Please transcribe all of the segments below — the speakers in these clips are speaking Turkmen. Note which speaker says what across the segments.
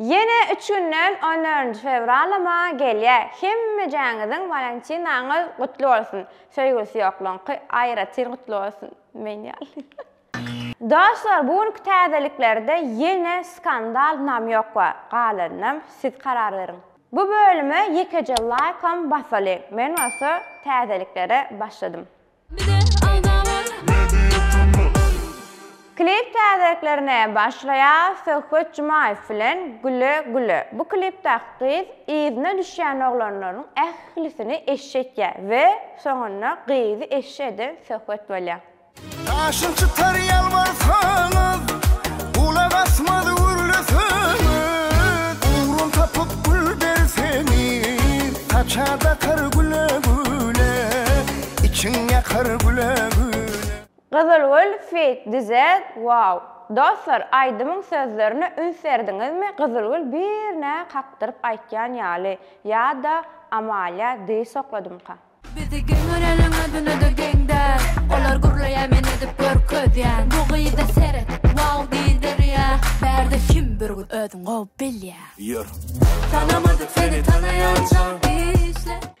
Speaker 1: Ýene üç günden on dördünji fewralama gelýä hemmejäňiziň walentynaňyz gutly bolsun söýgüsi ýokluňky aýratyn gutly bolsun men ýaly. Dostlar bu günki täzeliklerde ýene skandal nam ýok bar galanynam siz karar beriň. Bu bölüme ýekeje laýkam basalyň men bolsa täzeliklere başladym. Klip täzeliklerine başlaýas Söhbet Jumaýew bilen Güle güle bu klipdäki gyz yzyna düşýän oglanlaryň ählisini eşşi etýä we soňunda gyzy eşşi eden Söhbet bolýa. Daşyn
Speaker 2: çytar ýalbarsaňyz Gulak asmaz gürleseňiz Ugrum tapyp gül berseňiz Saça dakar güle güle. Içiň ýakar güle güne. Gyzylgül
Speaker 1: feat Düzet Wow! Dostlar aýdymyň sözlerine üns berdiňizmi Gyzylgül birnä kakdyryp aýtýan ýaly ýa-da Amalia dyz sokladymka. Bizi geň
Speaker 3: görýärleň özünede geň däl Olar gürleýär men edip görkezýän Bu gyza seret wow diýdirýä Bärde kim bir gyz özüň gowy bilýä
Speaker 2: Tanamadyk
Speaker 3: seni tanaýança Işle.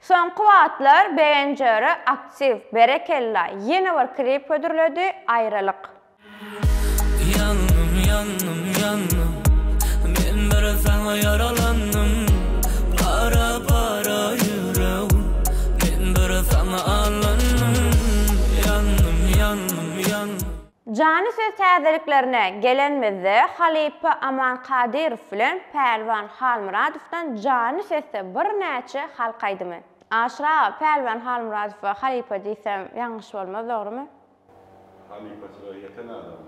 Speaker 4: Soňky wagtlar
Speaker 1: BNJR aktiw, berekella, ýene bir klip hödürledi, Aýralyk. Ýandym
Speaker 5: ýandym ýandym men bir saňa ýaralandym para para ýüregim men bir saňa allandym ýandym ýandym ýandym. Jany söz
Speaker 1: täzeliklerine gelenmizde halypa Aman Kadyrow bilen Pälwan Halmyradowdan jany sesde birnäçe halk aýdymy. Aşyr aga Pälwan Halmyradowa halypa diýsem ýalňyş bolmaz dogrymy?
Speaker 6: Halypaçylyga ýeten adam.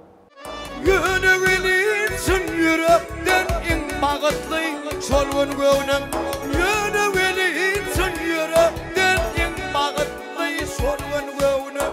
Speaker 6: Ýöne welin
Speaker 2: çyn ýürekden iň bagytly şol gün göwnüm Ýöne welin çyn ýürekden iň bagytly şol gün göwnüm.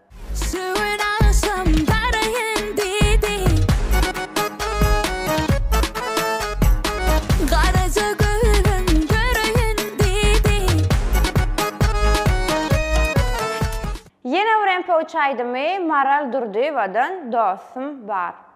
Speaker 3: Sögün agşam baraýyn diýdi. Garaja gözüm göreýin diýdi.
Speaker 1: Ýene bir MP3 aýdymy Maral Durdyýewadan Dostum bar.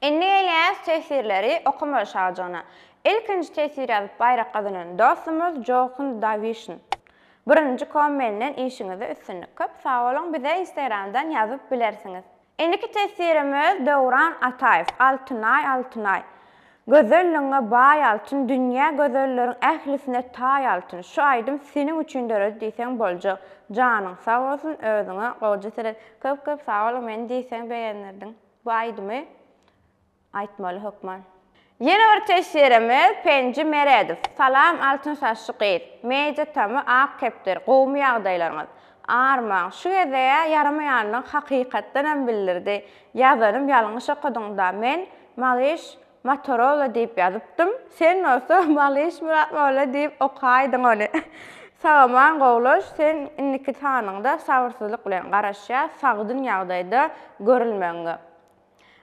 Speaker 1: Indi gelýäs teswirleri okamaga Şagjana. Ilkinji teswir ýazyp baýrak gazanan dostumyz Jochun Dawişn. Birinji kom menden işiňizde üstünlik köp sag boluň bize instagramdan ýazyp bilersiňiz. Indiki teswirimiz Döwran Ataýew Altynaý Altynaý Gözelligiňe baý altyn dünýä Gözelleriň ählisine taý altyn Şu aýdym seniň üçin döredi diýseň boljak Janyň sag bolsun özüňe goja seret Köp köp sag boluň meni diýseň begendirdiň. Bu aýdymy aýtmaly hökman. Ýene bir teşjeremiz Penji Meredow. Salam altyn saçly gyz. Media tamy ak kepder. Gowumy ýagdaýlaryňyz? Arman, şu geze ýaramaýanyny hakykatdanam bildirdi. Ýazanym ýalňyş okadyňda men Malyş Motorola diýip ýazypdym. Sen bolsa Malyş Myratmolla diýip okaýdyň ony. Sagaman Gowlaş, sen indiki sanyňda sabyrsyzlyk bilen garaşýas sagdyn ýagdaýda görülmegiňe.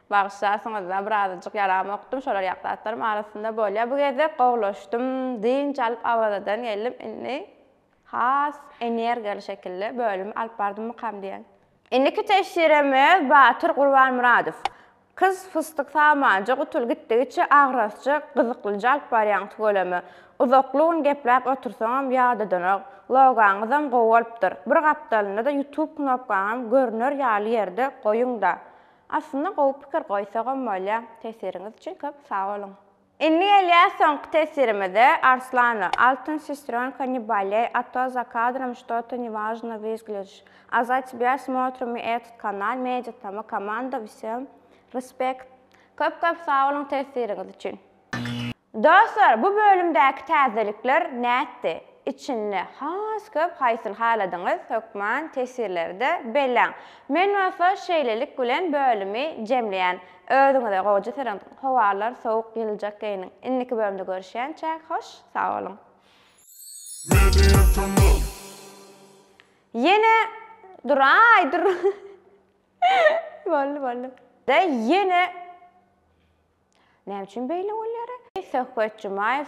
Speaker 1: Bagyşlarsyňyz-a, birazajyk ýaramokdym, şolar ýaly zatlarym arasynda bolýar. Bu gezek gowlaşdym, dynç alyp Awazadan geldim, indi has energiýaly şekilde bölümi alyp bardymykam diýen. Indiki teşşiremiz Batyr Gurbanmyradow. Kyz fysdyk samanja gutul gitdigiçe agrasja gyzyklyja alyp barýaň tüweleme. Uzakly gün gepläp otursaňam ýadadanok. Logaňyzam gowy bolupdyr. Bir gapdalynda-da ýutub knopkaňam görner ýaly ýerde goýuňda. Aslynda gowy pikir goýsagam bolýa. Tesiriňiz üçin köp sag boluň. Indi gelýär soňky tesirimize, Arslana, Altyn sestrёnka ne bolej, a to za kadrom što-to nevažno vyzgledž, a za tebja smotrim mi etot kanal, media tama komanda vsem respekt. Köp köp sag boluň tesiriňiz üçin. Dostlar bu bölümdäki täzelikler nätdi? Içinde has köp haýsyny haladyňyz hökman tesirleri-de belläň. Men bolsa şeýlelik bilen bölümi jemleýän. Özüňize gowja syryň. Howalar sowuk ýyljak geýiniň. Indiki bölümde görüşýänçäk hoş sag boluň. Media kanal. Ýene duraý dur. Boldy boldy. Da ýene Näme üçin beýle bolýara? Söhbet Jumaýew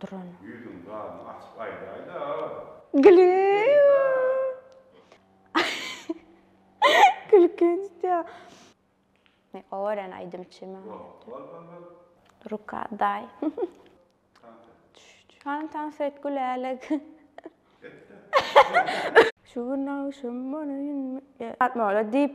Speaker 1: Duran. Ýüzüň
Speaker 6: gabyny açyp aýdaýda.
Speaker 1: Gülki gitýä. Owaran aýdymçy men. Ruka daý. Hany tans et gülälik. Şu gün agşam bolaýynmy. Ýatmaly diýip.